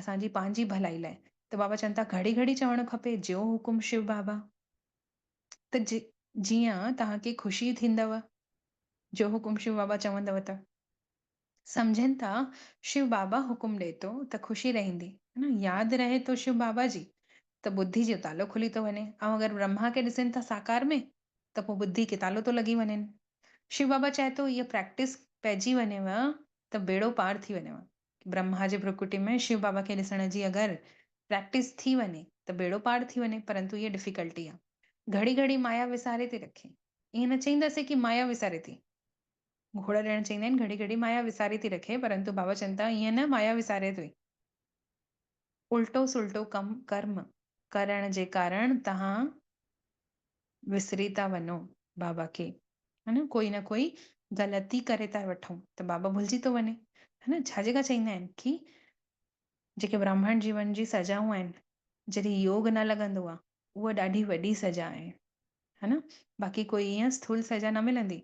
A: اسان جي پنهنجي ڀلائي لاء. ته بابا چون ٿا گهڙي گهڙي چوڻ کپي جيو حڪم شو بابا. ته جي جيئن توهان کي خوشي ٿيندو جيو حڪم شو بابا چوندو ته. سمجهن ٿا شو بابا حڪم ڏئي ٿو ته خوشي رهندي. ياد رهي ٿو شو بابا جي ته ٻڌي جو تالو کلي ٿو وڃي ۽ اگر برهما کي ڏسين ٿا ساڪار ۾ ته پوء ٻڌي کي تالو ٿو لڳي وڃين. شو بابا چاهي ٿو اها پريڪٽس پئجي وڃيو ته ٻيڙو پار ٿي وڃيو. برهما جي ڀرڪوٽي ۾ شو بابا کي ڏسڻ جي اگر پريڪٽس ٿي وڃي ته ٻيڙو پار ٿي وڃي پرنتو اها ڊفيڪلٽي آهي. گهڙي گهڙي مايا وساري ٿي رکي. ائين نه چئينداسين ڪي مايا وساري ٿي. گهوڙا ڄڻ چئيندا آهن گهڙي گهڙي مايا وساري ٿي رکي پرنتو بابا چون ٿا ائين نه مايا وساري ٿي. الٽو سلٽو ڪم ڪرم ڪرڻ جي ڪارڻ توهان وسري ٿا وڃو بابا کي ها نه ڪوئي نه ڪوئي غلطي ڪري ٿا وٺون ته بابا ڀلجي ٿو وڃي ها نه ڇا جيڪا چئيندا آهن ڪي جيڪي براهمڻ جيون جي سزائون آهن جڏهن يوگ نه لڳندو آهي اها ڏاڍي وڏي سزا آهي ها نه باقي ڪوئي ايئن سٿول سزا نه ملندي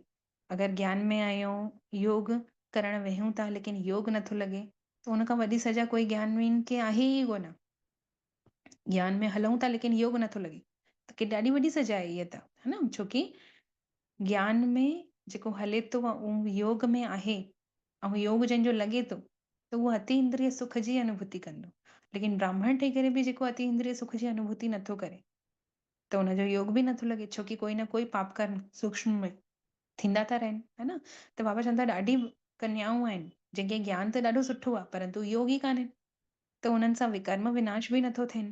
A: اگر گيان ۾ آهيون يوگ ڪرڻ ويهون ٿا ليڪن يوگ نٿو لڳي ته ان کان وڏي سزا ڪوئي گيان وين کي آهي ئي ڪونه گيان ۾ هلون ٿا ليڪن يوگ نٿو لڳي ته ڪي ڏاڍي وڏي سزا آهي هيء ته ها نه ڇوڪي گيان ۾ جيڪو هلي ٿو اهو يوگ ۾ آهي ۽ يوگ جنهن جو لڳي ٿو ته اهو اتي اندري سک جي انوڀوتي ڪندو ليڪن براهمڻ ٺهي ڪري به جيڪو اتي اندري سک جي انوڀوتي نٿو ڪري ته ان جو يوگ به نٿو لڳي ڇو ڪي ڪوئي نه ڪوئي پاپ ڪرم سوڪشم ۾ ٿيندا ٿا رهن ها نه ته بابا چون ٿا ڏاڍي ڪنيائون آهن جن کي گيان ته ڏاڍو سٺو آهي پرنتو يوگ ئي ڪانهن ته انهن سان وڪرم وناش به نٿو ٿين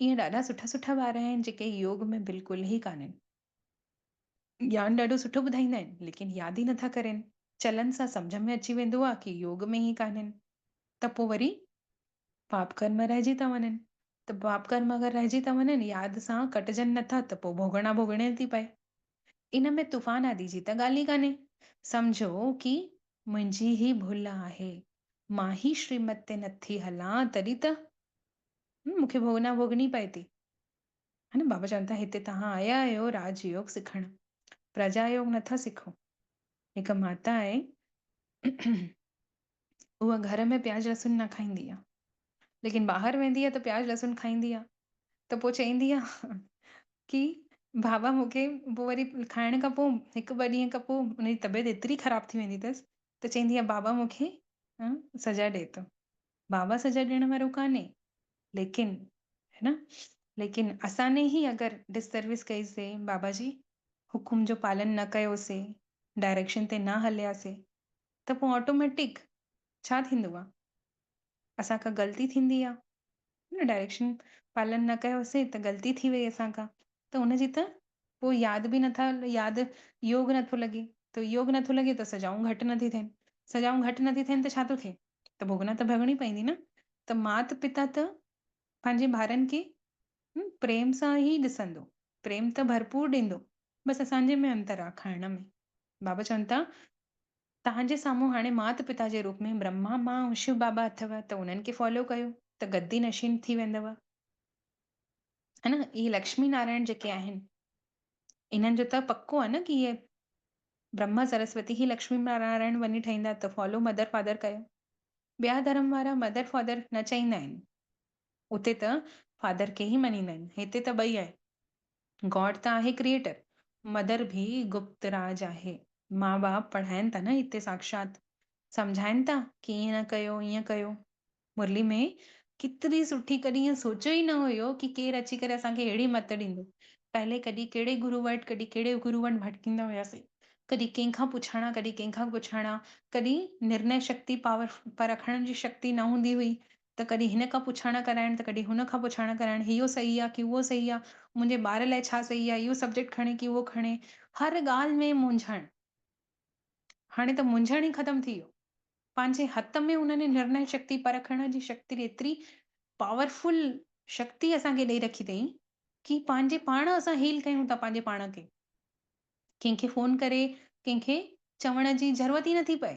A: ائين ڏاڍا سٺا سٺا ٻار آهن جيڪي يوگ ۾ بلڪل ئي ڪانهن گيان ڏاڍو سٺو ٻڌائيندا آهن ليڪن ياد ئي نٿا ڪرين چلن سان سمجهه ۾ اچي ويندو آهي ڪي يوگ ۾ ئي ڪانهن ته پوء وري پاپ ڪرم رهجي ٿا وڃن. ته پاپ ڪرم اگر رهجي ٿا وڃن، ياد سان ڪٽجن نٿا ته پوء ڀوڳڻا ڀوڳڻي ٿي پئي. ان ۾ طوفان آدي جي ته ڳالهه ئي ڪانهي. سمجهو ڪي منهنجي هي ڀل آهي. مان هي شريمت تي نٿي هلان تڏهن ته مون کي ڀوڳنا ڀوڳڻي پئي ٿي. بابا چون ٿا هتي توهان آيا آهيو راج يوگ سکڻ. پرجا يوگ نٿا سکو. هڪ ماتا آهي. هوء گهر ۾ پياز لهسن نه کائيندي آ ليڪن ٻاهر ويندي آ ته پياز لهسن کائيندي آ ته پوء چئيندي آ ڪي بابا مونکي پوء وري کائڻ کان پوء هڪ ٻه ڏينهن کان پوء ان جي طبيعت ايتري خراب ٿي ويندي تس ته چئيندي آ بابا مونکي ها سزا ڏي تو بابا سزا ڏيڻ وارو ڪانهي ليڪن ها نه ليڪن اسان ني هي اگر ڊس سروس ڪئي سي بابا جي حڪم جو پالن نه ڪيو سي ڊائريڪشن تي نه هليا سي ته پوء آٽوميٽڪ ڇا ٿيندو آ اسان کان غلطي ٿيندي آ نه ڊائريڪشن پالن نه ڪيوسين ته غلطي ٿي وئي اسان کان ته ان جي ته پوء ياد به نٿا ياد يوگ نٿو لڳي ته يوگ نٿو لڳي ته سزائون گهٽ نٿي ٿين سزائون گهٽ نٿي ٿين ته ڇا ٿو ٿئي ته ڀوڳنا ته ڀوڳڻي پوندي نه ته مات پتا ته پنهنجي ٻارن کي پريم سان ئي ڏسندو پريم ته ڀرپور ڏيندو بس اسان جي ۾ انتر آ کائڻ ۾ بابا چون ٿا، توهان جي سامهون هاڻي مات پتا جي روپ ۾ برهما ماء ۽ شو بابا اٿو ته انهن کي فالو ڪيو ته گدي نشين ٿي ويندؤ. ها نه اهي لڪشمي نارائڻ جيڪي آهن انهن جو ته پڪو آهي نه ڪي اهي برهما سرسوتي هي لڪشمي نارائڻ وڃي ٺهيندا ته فالو مدر فادر ڪيو. ٻيا ڌرم وارا مدر فادر نه چئيندا آهن. اتي ته فادر کي ئي مڃيندا آهن هتي ته ٻئي آهي. گاڊ ته آهي ڪريئيٽر، مدر ڀي گپت راج آهي، مان ٻاپ پڙهائين ٿا نه هتي ساکشات، سمجهائين ٿا ڪي ائين نه ڪيو ائين ڪيو، مرلي ۾ ڪيتري سٺي ڪڏهن ائين سوچيو ئي نه هيو ڪي ڪير اچي ڪري اسان کي اهڙي مت ڏيندو، پهلي ڪڏهن ڪهڙي گرو وٽ ڪڏهن ڪهڙي گرو وٽ ڀٽڪيندا هياسين، ڪڏهن ڪنهن کان پڇڻا ڪڏهن ڪنهن کان پڇڻا، ڪڏهن نرنئه شڪتي پاور پر رکڻ جي شڪتي نه هوندي هئي، ته ڪڏهن هن کان پڇاڻا ڪرائڻ ته ڪڏهن هن کان پڇاڻا ڪرائڻ اهو صحيح آ ڪي اهو صحيح آ، منهنجي ٻار لاء ڇا صحيح آ، اهو سبجيڪٽ کڻي ڪي اهو کڻي، هر ڳالهه ۾ مونجهڻ. هاڻي ته مونجهڻ ئي ختم ٿي ويو. پنهنجي هٿ ۾ هن ني نرنئي شڪتي پرکڻ جي شڪتي ايتري پاورفل شڪتي اسان کي ڏئي رکي تئين ڪي پنهنجي پاڻ اسان هيل ڪيون ٿا پنهنجي پاڻ کي. ڪنهن کي فون ڪري ڪنهن کي چوڻ جي ضرورت ئي نٿي پئي.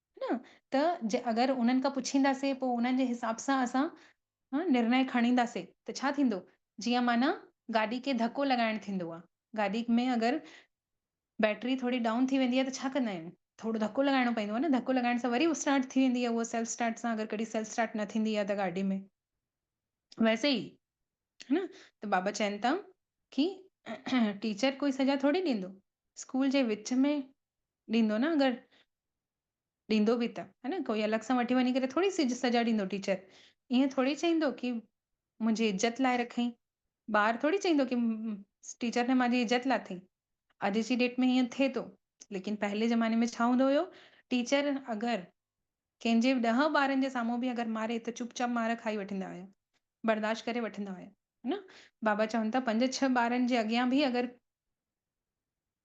A: نه ته جي اگر انهن کان پڇينداسين پوء انهن جي حساب سان اسان نرنئي کڻينداسين ته ڇا ٿيندو جيئن معنيٰ گاڏي کي ڌڪو لڳائڻ ٿيندو آهي گاڏي ۾ اگر بيٽري ٿوري ڊائون ٿي ويندي آهي ته ڇا ڪندا آهيون ٿورو ڌڪو لڳائڻو پوندو آهي نه ڌڪو لڳائڻ سان وري اسٽارٽ ٿي ويندي آهي اها سيلف اسٽارٽ سان اگر ڪڏهن سيلف اسٽارٽ نه ٿيندي آهي ته گاڏي ۾ ويسي ئي ها نه ته بابا چين ٿا ڪي ٽيچر ڪوئي سزا ٿوري ڏيندو اسڪول جي وچ ۾ ڏيندو نه اگر ڏيندو به ته هي نه ڪوئي الڳ سان وٺي وڃي ڪري ٿوري سج سجا ڏيندو ٽيچر ايئن ٿوري چئيندو ڪي منهنجي عزت لاء رکئين ٻار ٿوري چئيندو ڪي ٽيچر ني مانجي عزت لاٿئين اڄ جي ڊيٽ ۾ هيئن ٿئي ٿو ليڪن پهرلي زماني ۾ ڇا هوندو هيو ٽيچر اگر ڪنهن جي ڏهه ٻارن جي سامهون به اگر ماري ته چپ چاپ مار کائي وٺندا هيا برداشت ڪري وٺندا هيا هي نه بابا چون ٿا پنج ڇهه ٻارن جي اڳيان به اگر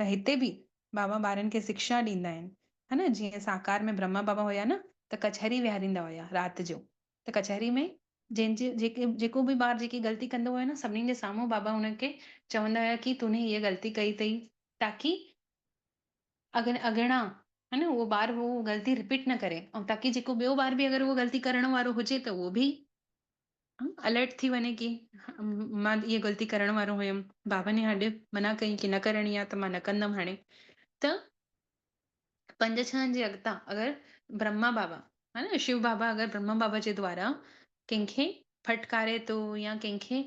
A: ته هتي به بابا ٻارن کي سکشا ڏيندا آهن ها نه جيئن ساڪار ۾ برهما بابا هيا نه ته ڪچهري ويهاريندا هيا رات جو ته ڪچهري ۾ جنهن جي جيڪي جيڪو به ٻار جيڪي غلطي ڪندو هيو نه سڀني جي سامهون بابا هن کي چوندا هيا ڪي تون هيء غلطي ڪئي اٿئي تاڪي اڳ اڳڻا ها نه اهو ٻار هو غلطي رپيٽ نه ڪري ۽ تاڪي جيڪو ٻيو ٻار به اگر اهو غلطي ڪرڻ وارو هجي ته اهو به الرٽ ٿي وڃي ڪي مان هيء غلطي ڪرڻ وارو هيم بابا ني هڏ منع ڪئي ڪي نه ڪرڻي آ ته مان نه ڪندم هاڻي ته پنج ڇهن جي اڳتا اگر برهما بابا ها نه شو بابا اگر برهما بابا جي دوارا ڪنهن کي ڦٽڪاري ٿو يا ڪنهن کي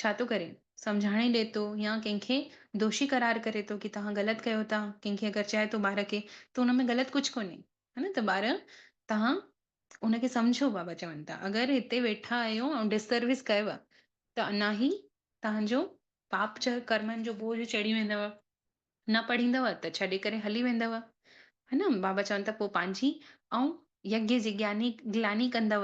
A: ڇا ٿو ڪري سمجهاڻي ڏي ٿو يا ڪنهن کي دوشي قرار ڪري ٿو ڪي توهان غلط ڪيو ٿا ڪنهن کي اگر چئي ٿو ٻار کي ته ان ۾ غلط ڪجهه ڪونهي ها نه ته ٻار توهان ان کي سمجهو بابا چون ٿا اگر هتي ويٺا آهيو ۽ ڊسسروس ڪيو آهي ته انا هي توهان جو پاپ جا ڪرمن جو بوجهه چڙهي ويندو نه پڙهيندو ته ڇڏي ڪري هلي ويندو ها نه بابا چون ٿا پوء پنهنجي ۽ يجي جي گياني گلاني ڪندو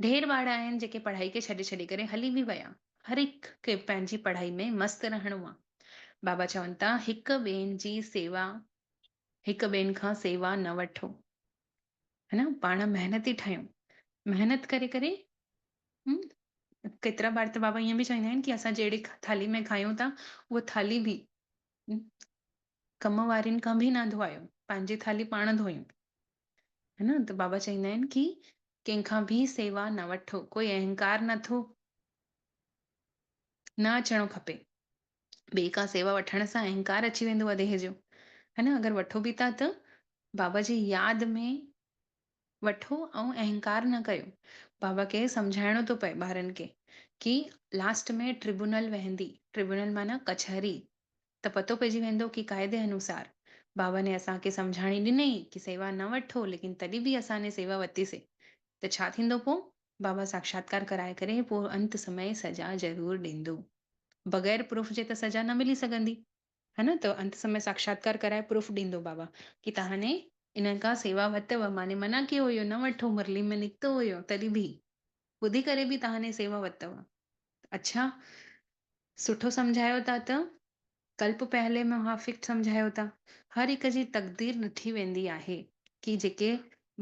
A: ڍير ٻار آهن جيڪي پڙهائي کي ڇڏي ڇڏي ڪري هلي به ويا هر هڪ کي پنهنجي پڙهائي ۾ مست رهڻو آهي بابا چون ٿا هڪ ٻين جي سيوا هڪ ٻين کان سيوا نه وٺو ها نه پاڻ محنتي ٺهيو محنت ڪري ڪري هم ڪيترا بار ته بابا ائين به چويندا آهن ڪي اسان جهڙي ٿالهي ۾ کايون ٿا اها ٿالهي به ڪم وارين کان به نه ڌوئايو پنهنجي ٿالهي پاڻ ڌوئيون ها نه ته بابا چويندا آهن ڪي ڪنهن کان به سيوا نه وٺو ڪوئي اهنڪار نه ٿو نه اچڻو کپي ٻي ڪا سيوا وٺڻ سان اهنڪار اچي ويندو آ ديهه جو. ها نه اگر وٺو به ٿا ته بابا جي ياد ۾ وٺو ۽ اهنڪار نه ڪيو. بابا کي سمجهائڻو ٿو پئي ٻارن کي ڪي لاسٽ ۾ ٽربونل وهندي، ٽربونل معنيٰ ڪچهري، ته پتو پئجي ويندو ڪي قاعدي انوسار بابا ني اسان کي سمجهاڻي ڏنئي ڪي سيوا نه وٺو ليڪن تڏهن به اسان ني سيوا وتيسي ته ڇا ٿيندو پو؟ بابا ساکشاتڪار ڪرائي ڪري پوء انت سمئي سزا ضرور ڏيندو. بغير پروف جي ته سزا نه ملي سگهندي. ها نه ته انت سمئي ساکشاتڪار ڪرائي پروف ڏيندو بابا ڪي تهاني انهن کان سيوا وتئو ماني منع ڪيو هيو نه وٺو مرلي ۾ نڪتو هيو تڏهن به ٻڌي ڪري به تهاني سيوا وتئو اڇا سٺو سمجهايو ٿا ته ڪلپ پهلي ۾ اها فڪٽ سمجهايو ته هر هڪ جي تقدير ڏٺي ويندي آهي ڪي جيڪي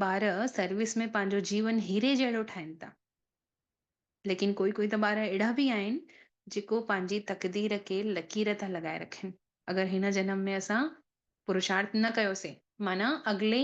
A: ٻار سروس ۾ پنهنجو جيون هيري جهڙو ٺاهين ٿا ليڪن ڪوئي ڪوئي ته ٻار اهڙا به آهن جيڪو پنهنجي تقدير کي لڪير ٿا لڳائي رکن اگر هن جنم ۾ اسان پرشارٿ نه ڪيوسين معنيٰ اڳلي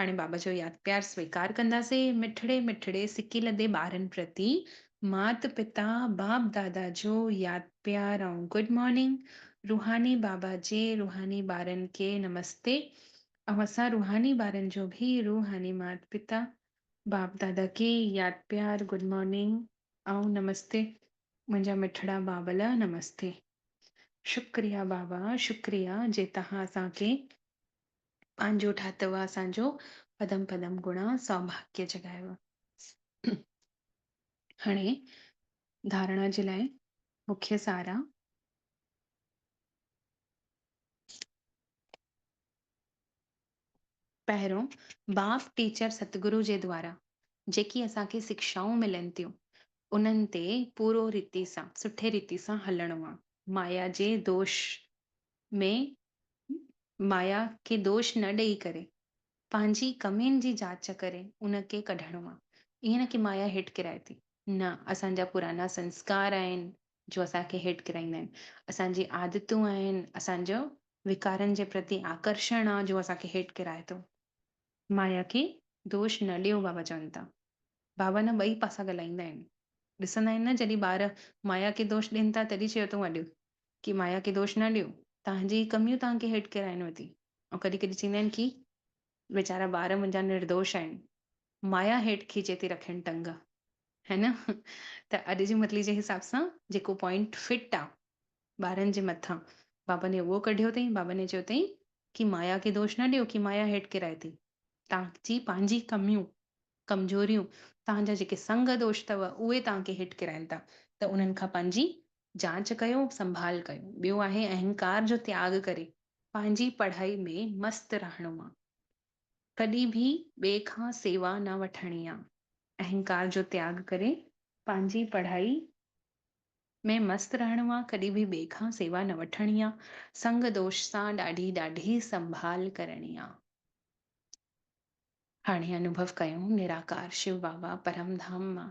A: هاڻي بابا جو ياد پيار سويڪار ڪنداسين، مٺڙي مٺڙي سڪي لڌي ٻارن پرتي مات پتا باپ دادا جو ياد پيار ۽ گڊ مارننگ، روحاني بابا جي روحاني ٻارن کي نمستي ۽ اسان روحاني ٻارن جو به روحاني مات پتا باپ دادا کي ياد پيار گڊ مارننگ ۽ نمستي منهنجا مٺڙا ٻاٻل نمستي شڪريا بابا شڪريا جي توهان اسان کي پنهنجو ٺاهتو اسان جو پدم پدم گڻا سوڀاگيه جڳايو هاڻي ڌارڻا جي لاء مکيه سار آ. پهريون باب ٽيچر ستگرو جي دوارا جيڪي اسان کي سکشائون ملن ٿيون انهن تي پورو ريتي سان سٺي ريتي سان هلڻو آ مايا جي دوش ۾ مايا کي دوش نه ڏئي ڪري پنهنجي ڪمين جي جاچ ڪري ان کي ڪڍڻو آ ائين نه ڪي مايا هيٺ ڪرائي ٿي نه اسان جا پرانا سنسڪار آهن جو اسان کي هيٺ ڪرائيندا آهن اسان جي عادتون آهن اسان جو وڪارن جي پرتي آڪرشڻ آ جو اسان کي هيٺ ڪرائي ٿو. مايا کي دوش نه ڏيو بابا چون ٿا بابا نه ٻئي پاسا ڳالهائيندا آهن ڏسندا آهن نه جڏهن ٻار مايا کي دوش ڏين ٿا تڏهن چيو اٿو اڏ ڪي مايا کي دوش نه ڏيو، توهان جي ئي ڪميون توهان کي هيٺ ڪيرائين ويٺي. ۽ ڪڏهن ڪڏهن چئيندا آهن ڪي ويچارا ٻار منهنجا نردوش آهن، مايا هيٺ کيچي ٿي رکين ٽنگ. هي نه؟ ته اڄ جي متلي جي حساب سان جيڪو پوائنٽ فٽ آ ٻارن جي مٿان بابا ني اهو ڪڍيو اٿئي، بابا ني چيو اٿئي ڪي مايا کي دوش نه ڏيو، ڪي مايا هيٺ ڪيرائي ٿي. توهان جي پنهنجي ڪميون، ڪمزوريون، توهان جا جيڪي سنگ دوش اٿو اهي توهان کي هيٺ ڪيرائين ٿا ته انهن کان پنهنجي جاچ ڪيو، سنڀال ڪيو. ٻيو آهي اهنڪار جو تياڳ ڪري پنهنجي پڙهائي ۾ مست رهڻو آ. ڪڏهن به ٻئي کان سيوا نه وٺڻي آ. اهنڪار جو تياڳ ڪري پنهنجي پڙهائي ۾ مست رهڻو آ، ڪڏهن به ٻئي کان سيوا نه وٺڻي آ. سنگ دوش سان ڏاڍي ڏاڍي سنڀال ڪرڻي آ. هاڻي انوڀو ڪيو نراڪار شو بابا پرم ڌام مان.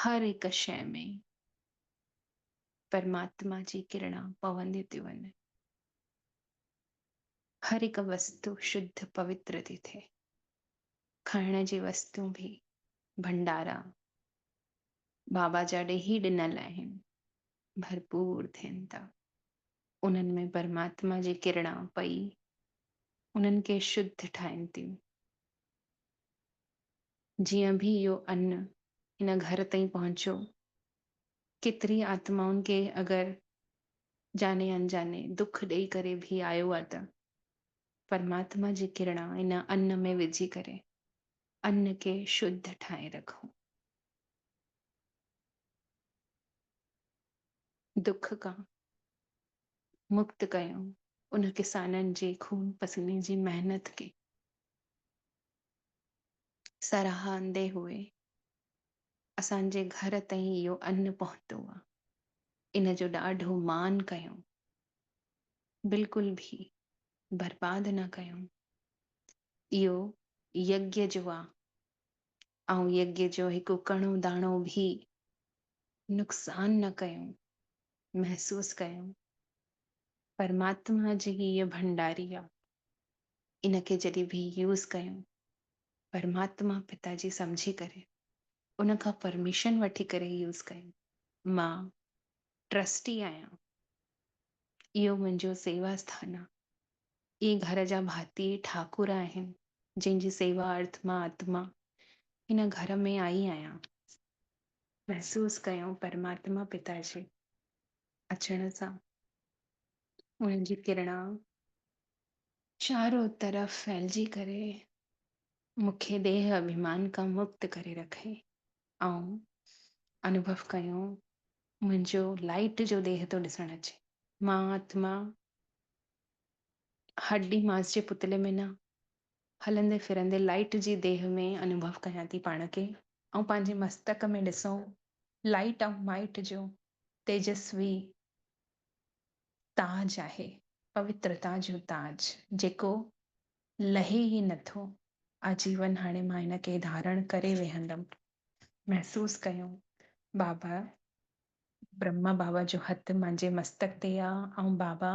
A: هر هڪ شيء ۾ پرماتما جي ڪرڻا پونديون ٿيون وڃن. هر هڪ وستو شڌ پوتر ٿي ٿئي. کائڻ جي وستون به ڀنڊارا بابا جا ڏيهي ڏنل آهن، ڀرپور ٿين ٿا. انهن ۾ پرماتما جي ڪرڻا پئي انهن کي شڌ ٺاهين ٿيون. جيئن به اهو ان هن گهر تائين پهچيو، ڪيتري آتمائن کي اگر جاني انجاني دک ڏئي ڪري به آيو آ ته پرماتما جي ڪرڻا ان ان ۾ وجهي ڪري ان کي شڌ ٺاهي رکون. دک کان مڪت ڪيون ان ڪسانن جي خون پسيني جي محنت کي سراهندي هئي. اسان جي گهر تائين اهو ان پهتو آ. ان جو ڏاڍو مان ڪيائون. بلڪل به برباد نه ڪيائون. اهو يگيا جو آ. آئون يگيا جو هڪ ڪڻو داڻو به نقصان نه ڪيائون. محسوس ڪيائون. پرماتما جي هيء ڀنڊاري آ. ان کي جڏهن به يوز ڪيون پرماتما پتا جي سمجهي ڪري ان کان پرميشن وٺي ڪري يوز ڪيون مان ٽرسٽي آهيان اهو منهنجو سيوا اسٿان آ اهي گهر جا ڀاتي ٺاڪر آهن جنهن جي سيوا ارٿ مان آتما هن گهر ۾ آئي آهيان. محسوس ڪيون پرماتما پتا جي اچڻ سان ان جي ڪرڻا چارو طرف ڦهلجي ڪري مون کي ديهه اڀيمان کان مڪت ڪري رکئي. آئون انوڀو ڪيو منهنجو لائيٽ جو ديهه ٿو ڏسڻ اچي. مان آتما هڏي ماس جي پتلي ۾ نه، هلندي ڦرندي لائيٽ جي ديهه ۾ انوڀو ڪيان ٿي پاڻ کي. آئون پنهنجي مستڪ ۾ ڏسون لائيٽ آئون مائيٽ جو تيجسوي تاج آهي، پوترتا جو تاج، جيڪو لهي ئي نه ٿو. آجيون هاڻي مان ان کي ڌارڻ ڪري ويهندم. محسوس ڪيو، بابا برهما بابا جو هٿ منهنجي مستڪ تي آ ۽ بابا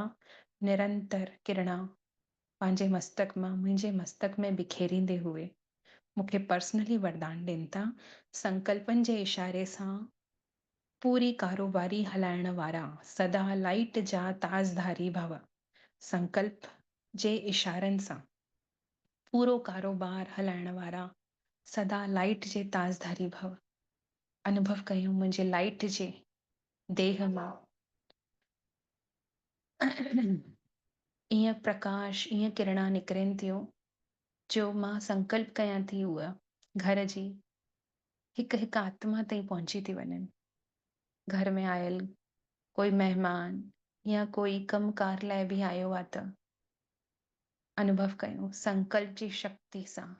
A: نرنتر ڪرڻا پنهنجي مستڪ مان منهنجي مستڪ ۾ بکيريندي هئي مون کي پرسنلي وردان ڏين ٿا، سنڪلپن جي اشاري سان پوري ڪاروباري هلائڻ وارا سدا لائيٽ جا تاجڌاري ڀو سنڪلپ جي اشارن سان پورو ڪاروبار هلائڻ وارا سدا لائيٽ جي تاجڌاري ڀو انڀو ڪيون منهنجي لائيٽ جي ديهه مان ايئن پرڪاش ايئن ڪرڻا نڪرين ٿيون جو مان سنڪلپ ڪيان ٿي هوء گهر جي هڪ هڪ آتما تائين پهچي ٿي وڃن. گهر ۾ آيل ڪوئي مهمان يا ڪوئي ڪم ڪار لاء به آيو آ ته انوڀو ڪيو سنڪلپ جي شڪتي سان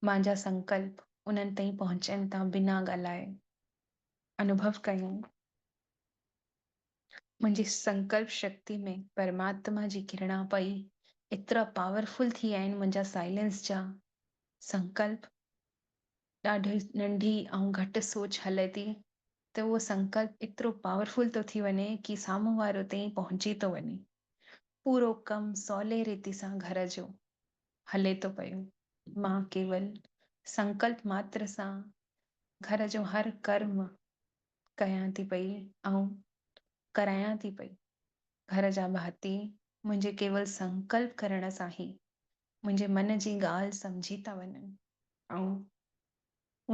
A: مانجا سنڪلپ انهن تائين پهچن ٿا بنا ڳالهائي انوڀو ڪيو منهنجي سنڪلپ شڪتي ۾ پرماتما جي ڪرڻا پئي ايترا پاورفل ٿي آهن منهنجا سائلنس جا سنڪلپ ڏاڍي ننڍي ۽ گهٽ سوچ هلي ٿي ته اهو سنڪلپ ايترو پاورفل ٿو ٿي وڃي ڪي سامهون وارو تيئن پهچي ٿو وڃي. پورو ڪم سولي ريتي سان گهر جو هلي ٿو پيو. مان ڪيول سنڪلپ ماتر سان گهر جو هر ڪرم ڪيان ٿي پئي ۽ ڪرايان ٿي پئي. گهر جا ڀاتي منهنجي ڪيول سنڪلپ ڪرڻ سان ئي منهنجي من جي ڳالهه سمجهي ٿا وڃن ۽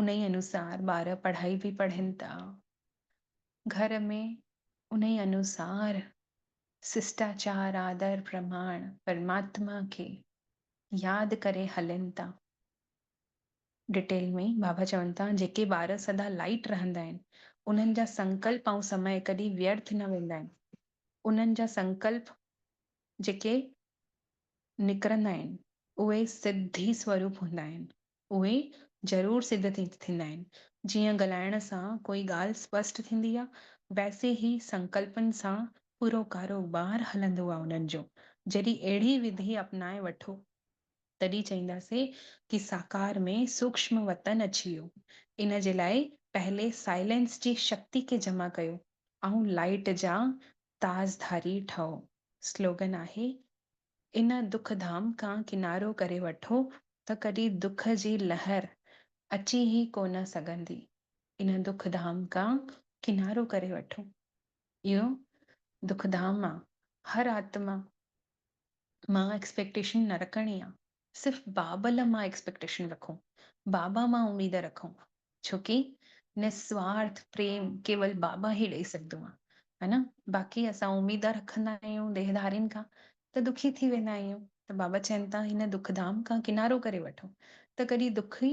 A: انهي انوسار ٻار پڙهائي به پڙهن ٿا. گهر ۾ انهي انوسار سشٽاچار، آدر، پرماڻ، پرماتما کي ياد ڪري هلن ٿا. ڊٽيل ۾ بابا چون ٿا جيڪي ٻار سدا لائيٽ رهندا آهن انهن جا سنڪلپ ۽ سمئي ڪڏهن ويرٿ نه ويندا آهن. انهن جا سنڪلپ جيڪي نڪرندا آهن، اهي سڌي سوروپ هوندا آهن. اهي ضرور سڌ ٿيندا آهن. جيئن ڳالهائڻ سان ڪوئي ڳالهه اسپشٽ ٿيندي آ، ويسي ئي سنڪلپن سان پورو ڪاروبار هلندو آ انهن جو. جڏهن اهڙي وڌي اپنائي وٺو، تڏهن چئينداسين ڪي ساڪار ۾ سوڪشم وتن اچي ويو. ان جي لاء پهلي سائلينس جي شڪتي کي جمع ڪيو. آئون لائيٽ جا تاج ڌاري ٺهو سلوگن آهي ان دک ڌام کان ڪنارو ڪري وٺو ته ڪڏهن دک جي لهر اچي ئي ڪو نه سگهندي ان دک ڌام کان ڪنارو ڪري وٺو اهو دک ڌام آ هر آتما مان ايڪسپيڪٽيشن نه رکڻي آ. صرف بابل مان ايڪسپيڪٽيشن رکون، بابا مان اميد رکون، ڇو ڪي نسوارٿ پريم ڪيول بابا ئي ڏئي سگهندو آ ها نه باقي اسان اميدا رکندا آهيون ديهڌارين کان ته دکي ٿي ويندا آهيون ته بابا چين ٿا هن دکڌام کان ڪنارو ڪري وٺو ته ڪڏي دک ئي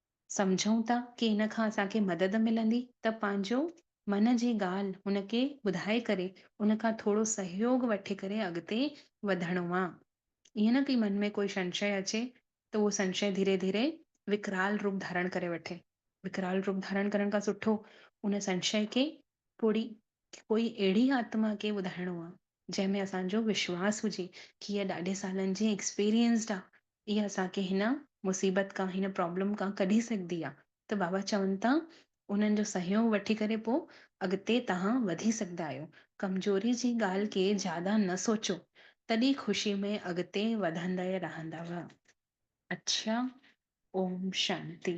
A: سمجهون ٿا ڪي ان کان اسان کي مدد ملندي ته پنهنجو من جي ڳالهه هن کي ٻڌائي ڪري ان کان ٿورو سهيوڳ وٺي ڪري اڳتي وڌڻو آ. ائين نه ڪي من ۾ ڪوئي سنشيه اچي ته اهو سنشيه ڌيري ڌيري وڪرال روپ ڌارڻ ڪري وٺي. وڪرال روپ ڌارڻ ڪرڻ کان سٺو ان سنشيه کي ڪوڙي ڪوئي اهڙي آتما کي ٻڌائڻو آ جنهن ۾ اسان جو وشواس هجي ڪي هيء ڏاڍي سالن جي ايڪسپيرينسڊ آ اها اسان کي هن مصيبت کان هن پرابلم کان ڪڍي سگهندي آ ته بابا چون ٿا انهن جو سهيوگ وٺي ڪري پو اڳتي تهان وڌي سگهندا آهيو ڪمزوري جي ڳالهه کي زياده نه سوچو تڏي خوشي ۾ اڳتي وڌندا رهندؤ. اڇا اوم شانتي.